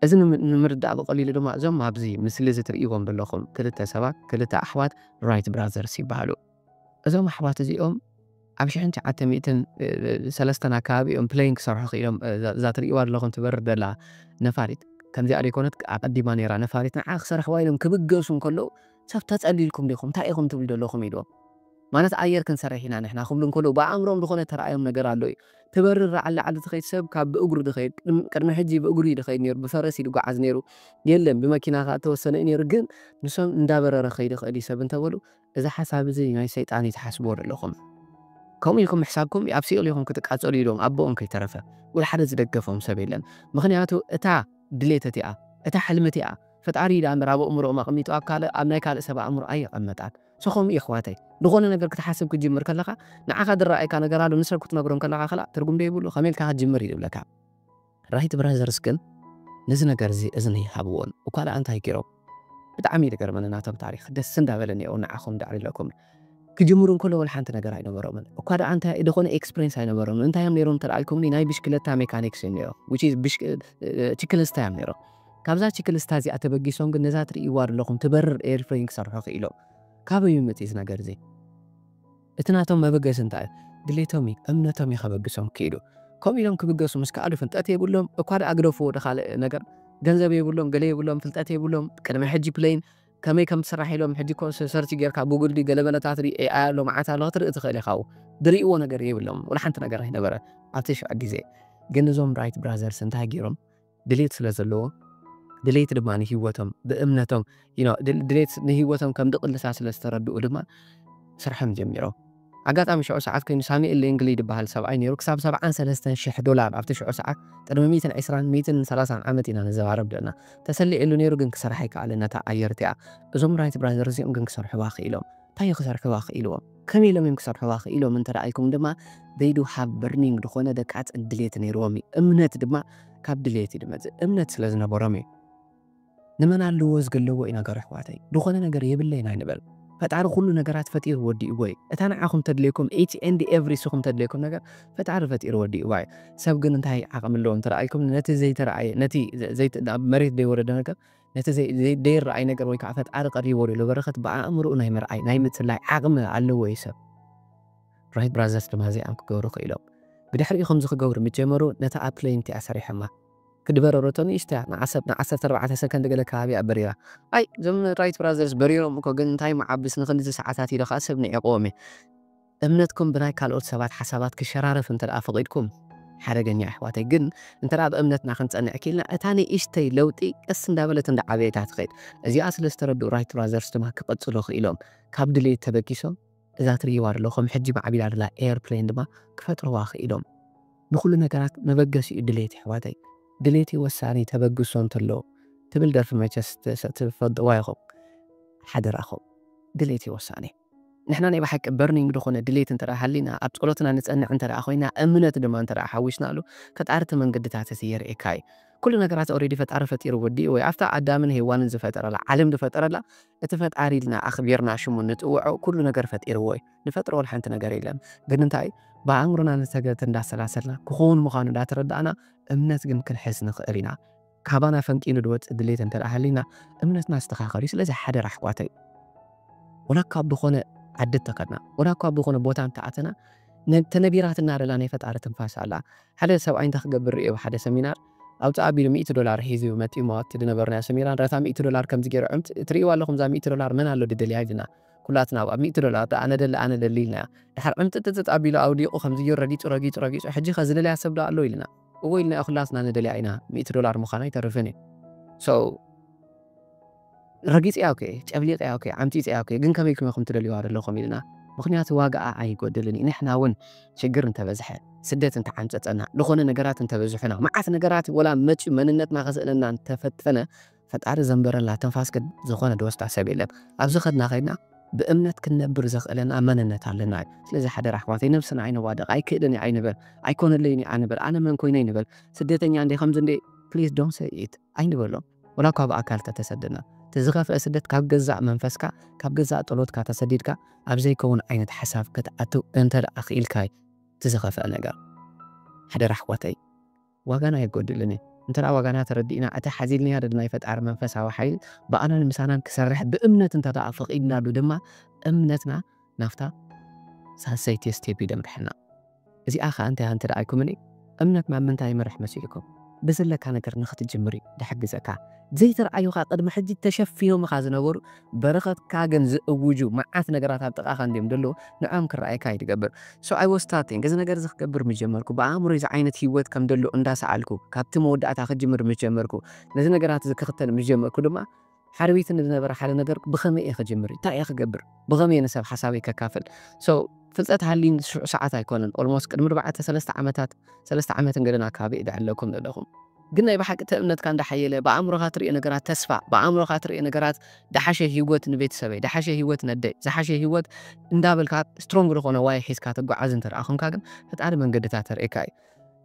እዚ ንምርዳእ ብቐሊሉ ድማ እዞም ኣብዚ ምስሊ እዚ ትርእይዎም ዘለኹም ክልተ ሰባት ክልተ ኣሕዋት ራይት ብራዘርስ ይበሃሉ። እዞም ኣሕዋት እዚኦም ኣብ ሽሕን ትሽዓተ ሚእትን ሰለስተን ኣከባቢ እዮም ፕሌን ክሰርሑ ክኢሎም። እዛ ትርእይዋ ዘለኹም ትበርር ዘላ ነፋሪት ከምዚኣ ዘይኮነት ኣቐዲማ ነይራ ነፋሪት ንዓ ክሰርሕዋ ኢሎም ክብገሱ እንከለዉ ሰብ ተጸሊልኩም ዲኹም ታይ ኢኹም ትብሉ ደለኹም ኢልዎም ማለት ኣየር ክንሰርሕ ኢና ንሕና ክብሉ እንከለዉ ብኣእምርኦም ዝኾነ ተራኣዮም ነገር ኣሎ እዩ ትበርር ላዕሊ ላዕሊ ትኸይድ ሰብ ካብ ብእግሩ ድኸይድ ቅድሚ ሕጂ ብእግሩ እዩ ድኸይድ ኔሩ ብፈረስ እዩ ድጓዓዝ ኔሩ የለን ብመኪና ከኣ እተወሰነ እዩ ኔሩ ግን ንሶም እንዳበረረ ክኸይድ ይኽእል እዩ ሰብ እንተበሉ እዚ ሓሳብ እዚ ናይ ሰይጣን እዩ ትሓስብዎ ደለኹም ከምኡ ኢልኩም ምሕሳብኩም ኣብ ሲኦል ኢኹም ክትቃጸሉ ኢልዎም ኣቦኦም ከይተረፈ ወላ ሓደ ዝደገፎም ሰብ የለን ምኽንያቱ እታ ድሌት እቲኣ እታ ሕልሚ እቲኣ ፈጣሪ ዳኣ እምበር ኣብ ኣእምሮኦም ኣቅሚጡ ኣብ ካልእ ኣብ ናይ ካልእ ሰብ ኣእምሮ ኣይቀመጣን so ከምኡ እዩ ኣሕዋተይ ድኮነ ነገር ክትሓስብ ክትጅምር ከለካ ንዓካ ድረኣየካ ነገር ኣሎ ንሰብ ክትነግሮም ከለካ ከላእ ትርጉም ዶ ይብሉ ከመይ ኢልካ ክትጅምር እዩ ዝብለካ Right Brothers ግን ነዚ ነገር እዚ እዝኒ ኣይሃብዎን እኳ ዳኣ እንታይ ጌሮም ብጣዕሚ እዩ ዝገርመኒ ናቶም ታሪክ ደስ እንዳበለኒ እየ ውን ንዓኩም ዳዕሪለኩም ክጅምሩ እንከሎ ወላ ሓንቲ ነገር ኣይነበሮምን እኳ ደኣ እንታይ ደኾነ ኤክስፕሬንስ ኣይነበሮምን እንታይ እዮም ኔሮም እንተ ኢልኩምኒ ናይ ብሽክለታ ሜካኒክስ እዮም ኔሮም which is ችክልስታ እዮም ኔሮም ካብዛ ችክልስታ እዚኣ ተበጊሶም ግን ነዛ ትርእይዋ ደለኹም ትበርር ኤርፕሌን ክሰርሑ ክኢሎም ካበይ እዩ መጺኡ እዚ ነገር እዚ እቲ ናቶም መበገሲ እንታይ እዩ ድሌቶም እዩ እምነቶም እዩ ከበግሶም ክኢሉ ከምኡ ኢሎም ክብገሱ ምስ ከኣሉ ፍልጠት የብሎም እኳ ደኣ ግደፍዎ ወደ ካልእ ነገር ገንዘብ የብሎም ገለ የብሎም ፍልጠት የብሎም ቅድሚ ሕጂ ፕሌን ከመይ ከም ትስራሕ ኢሎም ሕጂ እኮ ሰርች ጌርካ ጉግል ድዩ ገለመለታት ድዩ AI ኣሎ መዓት ኣሎ ክትርኢ ትኽእል ኢኻ ዝርእይዎ ነገር የብሎምን ወላ ሓንቲ ነገር ኣይነበረን ኣብቲ ሽዑ ግዜ ግን እዞም ራይት ብራዘርስ እንታይ ጌሮም ድሌት ስለ ዘለዎም ድሌት ድማ ንሂወቶም ብእምነቶም ድሌት ንሂወቶም ከም ድቅልሳ ስለ ዝተረድኡ ድማ ስርሖም ጀሚሮም። ኣጋጣሚ ሽዑ ሰዓት ኮይኑ ሳሙኤል ሌንግሊ ድበሃል ሰብኣይ ነይሩ ክሳብ ሰብዓን ሰለስተን ሽሕ ዶላር ኣብቲ ሽዑ ሰዓት ቅድሚ ሚእትን ዕስራን ሚእትን ሰላሳን ዓመት ኢና ንዘባረብ ደና ተሰሊዕሉ ነይሩ ግን ክሰርሓ ኣይከኣለን ነታ ኣየር እቲኣ እዞም ራይት ብራዘርስ እዮም ግን ክሰርሕዋ ክኢሎም እንታይ እዩ ክሰርሕዋ ክኢልዎም ከመይ ኢሎም እዮም ክሰርሕዋ ክኢሎም እንተ ኢልኩም ድማ they do have burning ዝኾነ ደቃጽ ድሌት ነይርዎም እዩ እምነት ድማ ካብ ድሌት እዩ ድመጽእ እምነት ስለ ዝነበሮም እዩ ንመን ኣለዎ ዝግለቦ እዩ ነገሩ ኣሕዋተይ ድኾነ ነገር የብለይን ኣይንበል ፈጣሪ ኩሉ ነገራት ፈጢሩ ወዲእዎ እዩ እታ ንዓኹም ተድልየኩም each and every ስኹም ተድልየኩም ነገር ፈጣሪ ፈጢሩ ወዲእዋ እዩ ሰብ ግን እንታይ ዓቅሚ ኣለዎ እንተረኣኢልኩምኒ ነቲ ዘይተረኣየ ነቲ ናብ መሬት ዘይወረደ ነገር ነቲ ዘይረኣይ ነገር ወይ ከዓ ፈጣሪ ቀሪብዎ ዘሎ በረከት ብኣእምርኡ ናይ ምርኣይ ናይ ምጽላይ ዓቅሚ ኣለዎ እዩ ሰብ ራይት ብራዘርስ ድማ እዚኣም ክገብሩ ክኢሎም ብድሕሪኡ ከምዚ ክገብሩ ምስ ጀመሩ ነታ ኣብ ፕለይን እቲኣ ሰሪሖማ ክትበረረቶ ንእሽቶያ ንዓሰብ ን ዓሰርተ ኣርባዕተ ሰከንድ ገለ ከባቢ እያ በሪራ ኣይ እዞም ራይት ብራዘርስ በሪሮም እኮ ግን እንታይ ምዓብስ ንክልተ ሰዓታት ኢለ ከኣ ሰብ ንዒቅዎም እየ እምነትኩም ብናይ ካልኦት ሰባት ሓሳባት ክሸራረፍ እንተ ፈቂድኩም ሓደገኛ እዩ ኣሕዋተይ ግን እንተ ኣብ እምነትና ክንጸንዕ ኪኢልና እታ ንእሽተይ ለውጢ ቀስ እንዳበለት እንዳ ዓበየት እያ ትከድ እዚኣ ስለ ዝተረድኡ ራይት ብራዘርስ ድማ ክቅጽሉ ኪኢሎም ካብ ድሌት ተበጊሶም እዛ ትርእይዋ ደለኩም ሕጂ ማዕቢላ ደላ ኤርፕሌን ድማ ክፈጥርዋ ኪኢሎም። ንኩሉ ነገራት መበገሲ እዩ ድሌት የሕዋተይ ድሌትይ ወሳኒ ተበግሶ እንተለዎ ትብል ደርፊ መቸስ ትፈልጥዋ ኢኩም ሓደራኩም ድሌትይ ወሳኒ ንሕና ናይ ብሓቂ በርኒንግ ድኮነ ድሌት እንተ ሃሊና ኣብ ጸሎትና ንጸንዕ እንተ ኮይና እምነት ድማ እንተ ሓዊስናሉ ፈጣሪ እቲ መንገድታት እቲ የርእየካ እዩ ኩሉ ነገራት ኦሬዲ ፈጣሪ ፈጢሩ ወዲኡ ወይ ኣብታ ኣዳምን ሄዋንን ዝፈጠረላ ዓለም ዝፈጠረላ እቲ ፈጣሪ ኢልና ኣኽቢርና ሽሙ ንጽውዖ ኩሉ ነገር ፈጢርዎ እዩ። ንፈጥሮ ወላ ሓንቲ ነገር የለን ግን እንታይ ብኣእምሮና ንሰገት እንዳሰላሰልና ክኾን ምዃኑ እንዳተረዳእና እምነት ግን ክንሕዝ ንኽእል ኢና። ካባና ፈንቂሉ ድወጽእ ድሌት እንተ ሃልይና እምነትና ኣስተኻኸልዩ ስለዚ ሓደራ ኣሕዋተይ ወላ ካብ ዝኾነ ዓዲ እተኸድና ወላ ካብ ዝኾነ ቦታ እንተኣተና ተነቢራትና ደላ ናይ ፈጣሪ ትንፋስ ኣላ። ሓደ ሰብኣይ እንታይ ክገብር ርእየ ኣብ ሓደ ሰሚናር ኣውጽእ ኣቢሉ ሚእቲ ዶላር ሒዙ መጥዩሞ ኣብቲ ድነበርናዮ ኣሰሚራ ንረታ ሚእቲ ዶላር ከምዚ ጌሩ ዕምት ትርእይዋ ኣለኹም እዛ ሚእቲ ዶላር መን ኣሎ ድደልያ ኢሉና ኩላትና ኣብ ሚእቲ ዶላር ዶ ኣነ ደሊ ኣነ ደሊ ኢልናዮ ድሓር ዕምጥጥጥጥ ኣቢሉ ኣውዲቁ ከምዚ ጌሩ ረጊጹ ረጊጹ ረጊጹ ሕጂኸ ዝደልያ ሰብ ዶ ኣሎ ኢሉና እወ ኢልናዮ ኩላትና ንደልያ ኢና ሚእቲ ዶላር ምዃኑ ኣይተርፍን እዩ so ረጊጸያ እኮ'የ፣ ጨብሊቐያ እኮ'የ፣ ዓምጺጸያ እኮ'የ፣ ግን ከመይ ክመኹም ትደልዩዋ ደለኹም ኢልና፣ ምኽንያቱ ዋጋኣ ኣይጎድልን እዩ፣ ንሕና ውን ሽግር እንተበዝሐ፣ ስደት እንተዓምጸጸና፣ ልኾነ ነገራት እንተበዝሑና፣ መዓት ነገራት ወላ መጽዩ መንነትና ከስእነና እንተፈተነ፣ ፈጣሪ ዘንበረላ ትንፋስ ግን ዝኾነ ዝወስዳ ሰብ የለን፣ ኣብ ዝኸድና ከይድና ብእምነት ክንነብር ዘኽእለና መንነት ኣለና እዩ፣ ስለዚ ሓደራ ኣሕዋተይ ነብስና ኣይነዋድቕ፣ ኣይክእልን እየ ኣይንበል፣ ኣይኮነለይን እዩ ኣንበል፣ ኣነ መን ኮይነ ኣይንበል፣ ስደተኛ እንድየ ከምዚ እንድየ please don't say it ኣይንበሎም። ወላኳ ብኣካል ተተሰደና እቲ ዝኸፍኤ ስደት ካብ ገዛእ መንፈስካ ካብ ገዛእ ጸሎትካ ተሰዲድካ ኣብ ዘይከውን ዓይነት ሓሳብ ክትኣትው እንተደኣ ክኢልካ እዩ እቲ ዝኸፍኤ ነገር ሓደራ ኣሕዋተይ ዋጋና የጎድልን እዩ እንተደኣ ዋጋና ተረዲእና እቲ ሓዚልንያ ድል ናይ ፈጣሪ መንፈሳዊ ሓይሊ ብኣናን ምሳናን ክሰርሕ ብእምነት እንተደኣ ፈቂድናሉ ድማ እምነትና ናብታ ሳልሰይቲ ስቴፕ ይደምርሐና። እዚኣ ከኣ እንተያ እንተ ኣይኩምኒ እምነት ናብ ምንታይ ይመርሕ መሲሉኩም? ብዘለካ ነገር ንክትጅምር እዩ ድሕግዘካ። ዘይተርኣዩኻ ቅድሚ ሕጂ ተሸፊኖምኻ ዝነበሩ በረኸትካ ግን ዝእውጁ መዓት ነገራት ኣብ ጥቓኻ እንድዮም ደለዉ ንዕኦም ክረኣየካ እዩ ድገብር። So I was starting እዚ ነገር እዚ ክገብር ምስ ጀመርኩ ብኣእምሮይ እዚ ዓይነት ሂወት ከም ደሎ እንዳ ሰኣልኩ ካብቲ መወዳእታ ክጅምር ምስ ጀመርኩ ነዚ ነገራት እዚ ክኽተል ምስ ጀመርኩ ድማ ሓደ ቤት ንዝነበረ ሓደ ነገር ብኸመይ እየ ክጅምር እንታይ እየ ክገብር ብኸመይ እየ ንሰብ ሓሳበይ ከካፍል so ፍልጠት ሃልዩኒ ሽዑ ሰዓት ኣይኮነን almost ቅድሚ ኣርባዕተ ሰለስተ ዓመታት ሰለስተ ዓመትን ገለን ኣከባቢ እየ ዝዕለኩም ዘለኹም ግን ናይ ብሓቂ እቲ እምነትካ እንዳሓየለ ብኣእምሮኻ ትሪኦ ነገራት ተስፋ ብኣእምሮኻ ትሪኦ ነገራት ዝሓሸ ሂወት ንቤተሰበይ ዝሓሸ ሂወት ነደይ ዝሓሸ ሂወት እንዳበልካ ስትሮንግ ዝኾነ ዋይ ሒዝካ ትጓዓዝ እንተደኣ ኮንካ ግን ፈጣሪ መንገድታት የርእየካ እዩ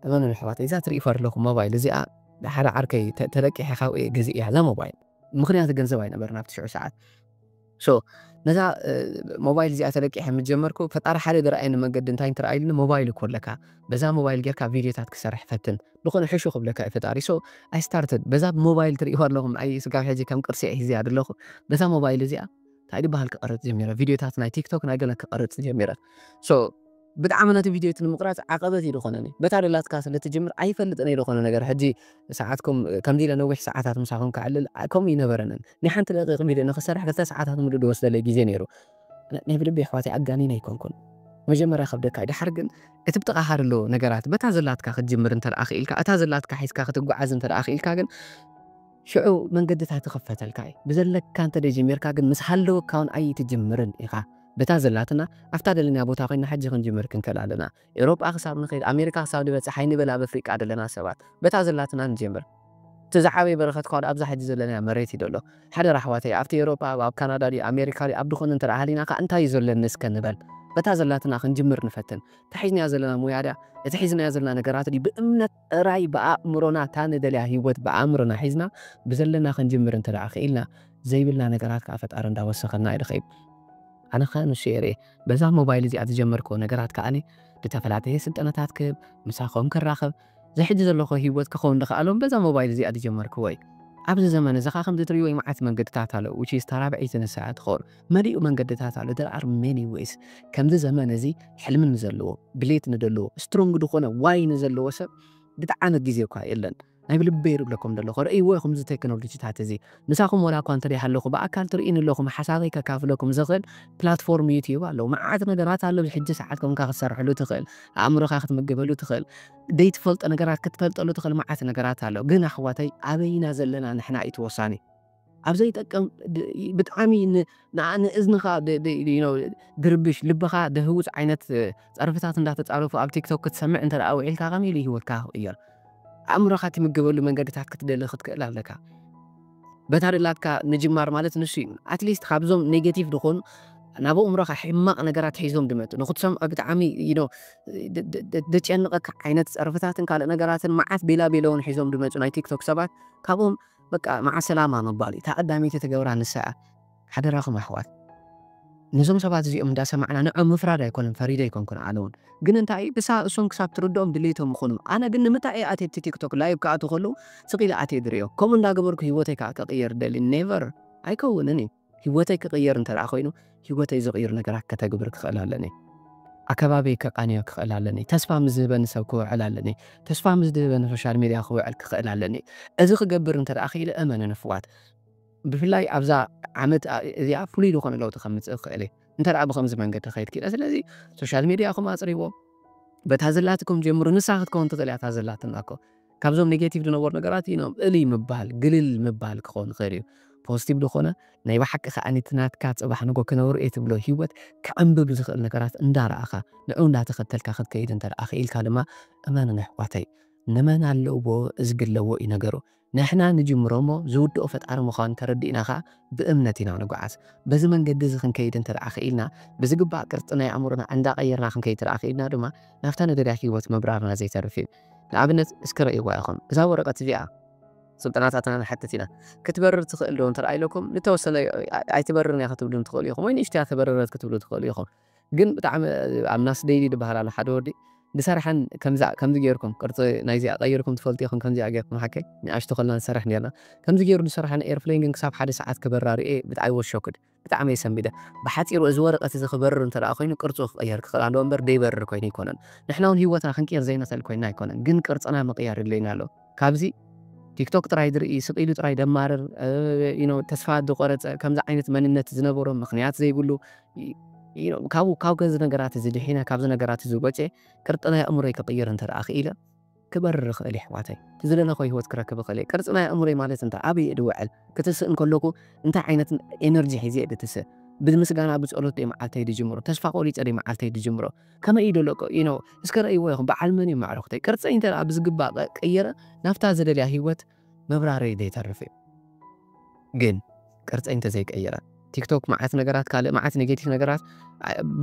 እመኑኒ ኣሕዋተይ እዛ ትርእይዋ ዘለኹም ሞባይል እዚኣ ንሓደ ዓርከይ ተለቂሐ ካብኡ እየ ገዚኤያ እዛ ሞባይል ምኽንያቱ ገንዘብ ኣይነበረን ኣብቲ ሽዑ ሰዓት ሶ ነዛ ሞባይል እዚኣ ተለቂሐ ምስ ጀመርኩ ፈጣሪ ሓደ ዝረኣየኒ መንገዲ እንታይ እንትረኣይልኒ ሞባይል እኮ ኣለካ በዛ ሞባይል ጌርካ ቪድዮታት ክሰርሕ ፈትን ዝኾነ ሕሹ ክብለካ እዩ ፈጣሪ ሶ ኣይ ስታርትድ በዛ ሞባይል ትርእይዋ ኣለኹም ኣይ ስጋብ ሕጂ ከም ቅርሲ እየ ሒዘያ ዘለኹ በዛ ሞባይል እዚኣ እንታይ ዝበሃል ክቐርፅ ጀሚረ ቪድዮታት ናይ ቲክቶክ ናይ ገለ ክቐርፅ ጀሚረ ሶ ብጣዕሚ ነቲ ቪድዮ እቲ ንምቕራጽ ዓቐበት እዩ ዝኾነኒ። በታ ደላትካ ስለ እትጅምር ኣይፈልጥን እየ ዝኾነ ነገር ሕጂ ሰዓትኩም ከምዚ ኢለ ነዊሕ ሰዓታት ምሳኹም ከዕልል ከምኡ እይነበረንን። ናይ ሓንቲ ደቒቕ ቪድዮ ንኽሰርሕ ክልተ ሰዓታት ምሉእ ዝወስደለይ ግዜ ነይሩ። ናይ ብልቢ የሕዋተይ ኣጋኒነ ኣይኮንኩን። መጀመርያ ይኸብደካ እዩ ደሓር ግን እቲ ብጥቓኻ ዘሎ ነገራት በታ ዘላትካ ክትጅምር እንተ ክኢልካ እታ ዘላትካ ሒዝካ ክትጉዓዝ እንተ ክኢልካ ግን ሽዑ መንገድታት ይኽፈተልካ እዩ። ብዘለካ እንተ ጀሚርካ ግን ምስ ሃለወካ ውን ኣይትጅምርን ኢኻ። በታ ዘላትና ኣብታ ደለናያ ቦታ ኮይና ሕጂ ክንጅምር ክንከል ኣለና ኤሮጳ ክሳብ ንከይድ ኣሜሪካ ክሳብ ንበጽሕ ኣይንበል ኣብ ኣፍሪቃ ደለና ሰባት በታ ዘላትና ንጀምር እቲ ዝዓበየ በረከት ኳል ኣብዛ ሕጂ ዘለናያ መሬት እዩ ደሎ ሓደራ ኣሕዋተይ ኣብቲ ኤሮጳ ኣብ ካናዳ ድዩ ኣሜሪካ ድዩ ኣብ ድኮነ እንተ ሃሊና ካኣ እንታይ እዩ ዘለኒ እስከ ንበል በታ ዘላትና ክንጅምር ንፈትን እታ ሒዝናያ ዘለና ሞያ ድያ እቲ ሒዝናዮ ዘለና ነገራት ድዩ ብእምነት ጥራይ ብኣእምሮና እታ ንደልያ ሂወት ብኣእምሮና ሒዝና ብዘለና ክንጅምር እንተ ደኣ ክኢልና ዘይብልና ነገራት ከኣ ፈጣሪ እንዳ ወሰኸልና ይርኺብ ኣነ ከኣ ንሱ እየ ርኤ በዛ ሞባይል እዚኣ ዝጀመርክዎ ነገራት ከኣ ብተፈላጠየ ስልጠናታት ክህብ ምሳኹም ክራኸብ እዚ ሕጂ ዘለኹዎ ሂወት ክኸውን ድኸኣሎ በዛ ሞባይል እዚኣ ድጀመርክዎ እዩ ኣብዚ ዘመን እዚ ከኣ ከምዚ ትርእይዎ እዩ መዓት መንገድታት ኣሎ which is እታ ራብዐይቲ ንሳ እያ ትኸውን መሊኡ መንገድታት ኣሎ there are many ways ከምዚ ዘመን እዚ ሕልሚ ንዘለዎ ድሌት ንደለዎ ስትሮንግ ድኾነ ዋይ ንዘለዎ ሰብ ብጣዓሚ ግዜ እኳ የለን ናይ ብልበይ ልብለኩም ደለኹ ረእይዎ ኢኹም እዚ ቴክኖሎጂታት እዚ ምሳኹም ወላ እኳ እንተ ሃለኹ ብኣካል ትርእዩኒ ኣለኹም ሓሳበይ ከካፍለኩም ዝኽእል ፕላትፎርም ዩቲዩብ ኣሎ መዓት ነገራት ኣሎ ብሕጂ ሰዓት ኮንካ ክትሰርሐሉ ትኽእል ኣእምሮኻ ክትምገበሉ ትኽእል ዘይትፈልጦ ነገራት ክትፈልጠሉ ትኽእል መዓት ነገራት ኣሎ ግን ኣሕዋተይ ኣበይና ዘለና ንሕና እዩ እቲ ወሳኒ ኣብ ዘይጠቅም ብጣዕሚ ንእዝንኻ ድርብሽ ልብኻ ደህውፅ ዓይነት ፀርፍታት እንዳተፃረፉ ኣብ ቲክቶክ ክትሰምዕ እንተ ውዒልካ ከመይ ኢሉ ሂወትካ ክቕየር ኣእምሮኻ ትምገበሉ መንገድታት ክትደሊ ክትክእል ኣለካ በታ ደላትካ ምጅማር ማለት ንሱ እዩ ኣትሊስት ካብዞም ኔጌቲቭ ድኾኑ ናብ ኣእምሮኻ ሕማቕ ነገራት ሒዞም ድመፁ ንክትሰምዖ ብጣዕሚ ደጨንቐካ ዓይነት ፀርፍታትን ካልእ ነገራትን መዓት ቤላ ቤለውን ሒዞም ድመፁ ናይ ቲክቶክ ሰባት ካብኦም በቃ ማዓ ሰላማ ምባል እዩ እታ ቀዳመይቲ ትገብራ ንሳ እያ ሓደራኩም ኣሕዋት ነዞም ሰባት እዚኦም እንዳሰማዕና ንዕኦም ምፍራድ ኣይኮነን ፈሪደ ኣይኮንኩን ኣነ ውን ግን እንታይ እዩ ክሳ እሶም ክሳብ ትርድኦም ድሌቶም ይኩኑ ኣነ ግን ንምታይ እየ ኣትየ ኣብቲ ቲክቶክ ላይቭ ክኣትው ከለው ስቅ ኢለ ኣትየ ዝሪኦ ከምኡ እንዳገበርኩ ሂወተይ ከዓ ክቅየር ደሊ ኔቨር ኣይከውንን እዩ ህይወተይ ክቕየር እንተደኣ ኮይኑ ህይወተይ ዝቕይሩ ነገራት ከተግብር ክኽእል ኣለኒ። ኣከባቢይ ከቃንዮ ክኽእል ኣለኒ። ተስፋ ምስ ዝህበኒ ሰብ ክውዕል ኣለኒ። ተስፋ ምስ ዝህበኒ ሶሻል ሚድያ ክውዕል ክኽእል ኣለኒ። እዚ ክገብር እንተደኣ ክኢለ እመኑኒ ኣሕዋት ብፍላይ ኣብዛ ዓመት እዚኣ ፍሉይ ዝኾነ ለውጢ ከምጽእ ክኽእል እየ እንተደኣ ብኸምዚ መንገዲ ክኸይድ ክኢለ። ስለዚ ሶሻል ሚድያኹም ኣጽርይዎ። በታ ዘላትኩም ጀምሩ። ንሳ ክትከውን ትኽእል እያ እታ ዘላትና እኮ። ካብዞም ኔጌቲቭ ዝነበሩ ነገራት ኢኖም እልይ ምባል ግልል ምባል ክኸውን ይኽእል እዩ። ፖዝቲቭ ዝኾነ ናይ ብሓቂ ከኣ እቲ ናትካ ጽባሕ ንጎ ክነብር እየ ትብሎ ሂወት ክዕምብብ ዝኽእል ነገራት እንዳረኣኻ ንዕኡ እንዳተኸተልካ ክትከይድ እንተ ደኣ ክኢልካ ድማ እመኑኒ ኣሕዋተይ ንመን ኣለዎ እዝግለዎ እዩ ነገሩ ንሕና ንጅምሮ እሞ ዝውድኦ ፈጣሪ ምዃኑ ተረዲእና ከኣ ብእምነት ኢና ንጎዓዝ በዚ መንገዲ እዚ ክንከይድ እንተ ደኣ ክኢልና ብዝግባእ ቅርጺ ናይ ኣእምሮና እንዳቐየርና ክንከይድ እንተ ደኣ ክኢልና ድማ ናብታ ንደልያ ሂወት ምብራርና ዘይተርፍ እዩ። ንኣብነት እስከ ረእይዋ ኢኹም እዛ ወረቐት እዚኣ ስልጠናታትና ንሓትት ኢና ክትበርር ትኽእል ዶ እንተረኣይለኩም ንተወሰነ ኣይትበርርን እያ ክትብሉን ትኽእሉ ኢኹም ወይ ንእሽተይ እያ ተበረረት ክትብሉ ትኽእሉ ኢኹም ግን ብጣዕሚ ኣብ ናስ ደይሊ ድበሃል ኣሎ ሓደ ወዲ ዝሰርሐን ከምዛ ከምዚ ጌርኩም ቅርጺ ናይዚኣ ቀይርኩም ትፈልጡ ኢኹም ከምዚኣ ጌርኩም ሓቀይ ንኣሽቱ ከለና ንሰርሕ ኔርና ከምዚ ጌሩ ዝሰርሐን ኤርፕሌን ግን ክሳብ ሓደ ሰዓት ክበራ ርኤ ብጣዕሚ ወስ ሾክድ ብጣዕሚ እየ ሰንቢደ። ብሓጺሩ እዚ ወረቐት እዚ ክበርር እንተ ደኣ ኰይኑ ቅርጹ ክቕየር ክኽእል ኣለዎ እምበር ደይበርር ኰይኑ ኣይኰነን። ንሕና እውን ህይወትና ክንቅይር ዘይንኽእል ኰይንና ኣይኰነን ግን ቅርጽና ምቕያር የድልየና ኣሎ። ካብዚ ቲክቶክ ጥራይ ዝርኢ ስቕ ኢሉ ጥራይ ደማርር you know ተስፋ ዝቖረጸ ከምዚ ዓይነት መንነት ዝነበሮ ምኽንያት ዘይብሉ you know ካብኡ ካብ ከምዚ ነገራት እዚ ድሒነ ካብዚ ነገራት እዚ ወጺኤ ቅርጥና የእምሮይ ክቕይር እንተ ደኣ ክኢለ ክበርር እኽእል የሕዋተይ ትዝደለኽዎ ሂወት ክረክብ እኽእል እየ ቅርጺ ናይ ኣእምሮይ ማለት እንታይ ኣበይ እየ ድውዕል ክትስእ እንከለኩ እንታይ ዓይነት ኤነርጂ ሒዘ እየ ድትስእ ብምስጋና ብጸሎት ድየ መዓልተይ ድጅምሮ ተስፋ ቆሪጸ ድየ መዓልተይ ድጅምሮ ከመይ እዩ ደሎ ዩ ኖው እስከ ረእይዎ ኢኹም በዓል መን እዩም ኣዕሩኽተይ ቅርጸይ እንተ ብዝግባእ ቀይረ ናብታ ዝደልያ ሂወት ምብራረይ ዘይተርፍ እዩ ግን ቅርጸይ እንተዘይቀይረ ቲክቶክ መዓት ነገራት ካልእ መዓት ኔጌቲቭ ነገራት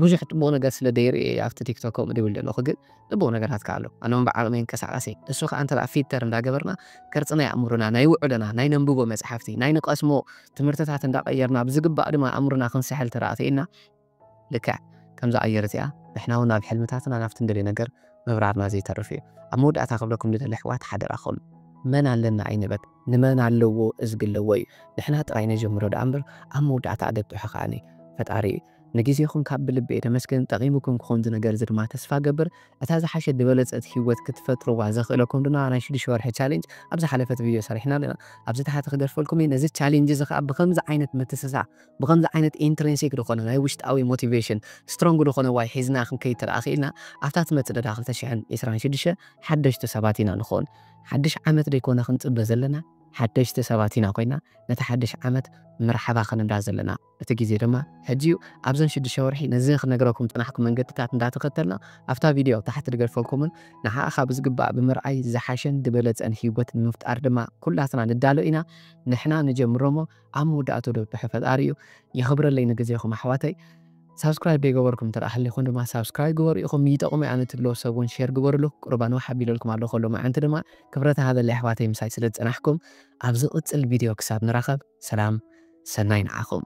ብዙሕ ጥቡቕ ነገር ስለ ደይርኢ እየ ኣብቲ ቲክቶክ ከምኡ ድብል ዘለኹ ግን ጥቡቕ ነገራት ከ ኣሎ ኣነውን ብዓቕመይ እንቀሳቐስ እየ እሱ ከዓ እንተ ፊልተር እንዳገበርና ቅርፂ ናይ ኣእምሮና ናይ ውዕሎና ናይ ነንብቦ መፅሓፍቲ ናይ ንቐስሞ ትምህርትታት እንዳቐየርና ብዝግባእ ድማ ኣእምሮና ክንስሕል ተደኣ ክኢልና ልክዕ ከምዛ ኣየር እዚኣ ንሕና ውን ኣብ ሕልምታትና ናብቲ ንደልዮ ነገር ምብራርና ዘይተርፍ እዩ። ኣብ መወዳእታ ክብለኩም ዝደሊ ኣሕዋት ሓደራኹም መን ኣለና ኣይንበል ንመን ኣለዎ እዝጊ ኣለዎ እዩ ንሕና ጥራይ ነጀምሮ ደኣ እምበር ኣብ መወዳእታ ኣገጡሑ ከኣ ፈጣሪ እዩ። ንግዜኹም ካብ ብልቢ እየ ዘመስግን ጠቂሙኩም ክኾን እዚ ነገር እዚ ድማ ተስፋ እገብር እታ ዝሓሸት ዝበለጸት ሂወት ክትፈጥርዋ ዘኽእለኩም ድማ ናይ ሽዱሽተ ወርሒ ቻሌንጅ ኣብ ዝሓለፈት ቪድዮ ሰሪሕና ኣለና ኣብዚ ታሕቲ ክገድፈልኩም እየ ነዚ ቻሌንጅ እዚ ከኣ ብኸምዚ ዓይነት ምትስሳእ ብኸምዚ ዓይነት ኢንትሪንሲክ ዝኾነ ናይ ውሽጣዊ ሞቲቬሽን ስትሮንግ ዝኾነ ዋይ ሒዝና ክንከይድ ተደኣ ክኢልና ኣብታ ትመጽእ ደላ ክልተ ሽሕን ዕስራን ሽዱሽተ ሓደሽቲ ሰባት ኢና ንኾን። ሓድሽ ዓመት ደይኮነ ክንጽበ ዘለና ሓደሽቲ ሰባት ኢና ኮይና ነቲ ሓድሽ ዓመት መርሓባ ክንብላ ዘለና። እቲ ግዜ ድማ ሕጂ እዩ። ኣብዘን ሽዱሽተ ወርሒ ነዚ ክንነግረኩም ዝጸናሕኩ መንገድታት እንዳተኸተልና ኣብታ ቪድዮ ኣብ ታሕቲ ድገድፈልኩምን ንዓኻ ብዝግባእ ብምርኣይ ዝሓሸን ድበለጸን ሂወት ንምፍጣር ድማ ኩላትና ንዳሎ ኢና። ንሕና ንጀምሮሞ። ኣብ መወዳእትኡ ደብሐ ፈጣሪ እዩ የኽብረለይ ንግዜኹም ኣሕዋተይ ሳብስክራይብ ደይገበርኩም እንተ ሃሊኹም ድማ ሳብስክራይብ ግበሩ ኢኹም ይጠቕሙ ኣነ ትብልዎ ሰብ እውን ሼር ግበርሉ ቁርብ ኣንዋሕ ኣቢለልኩም ኣለኹ ሎሚ መዓንቲ ድማ ክብረት ሃበለይ ኣሕዋተይ ምሳይ ስለ ዝጸናሕኩም ኣብ ዝቕጽል ቪድዮ ክሳብ ንራኸብ ሰላም ሰናይ ንዓኹም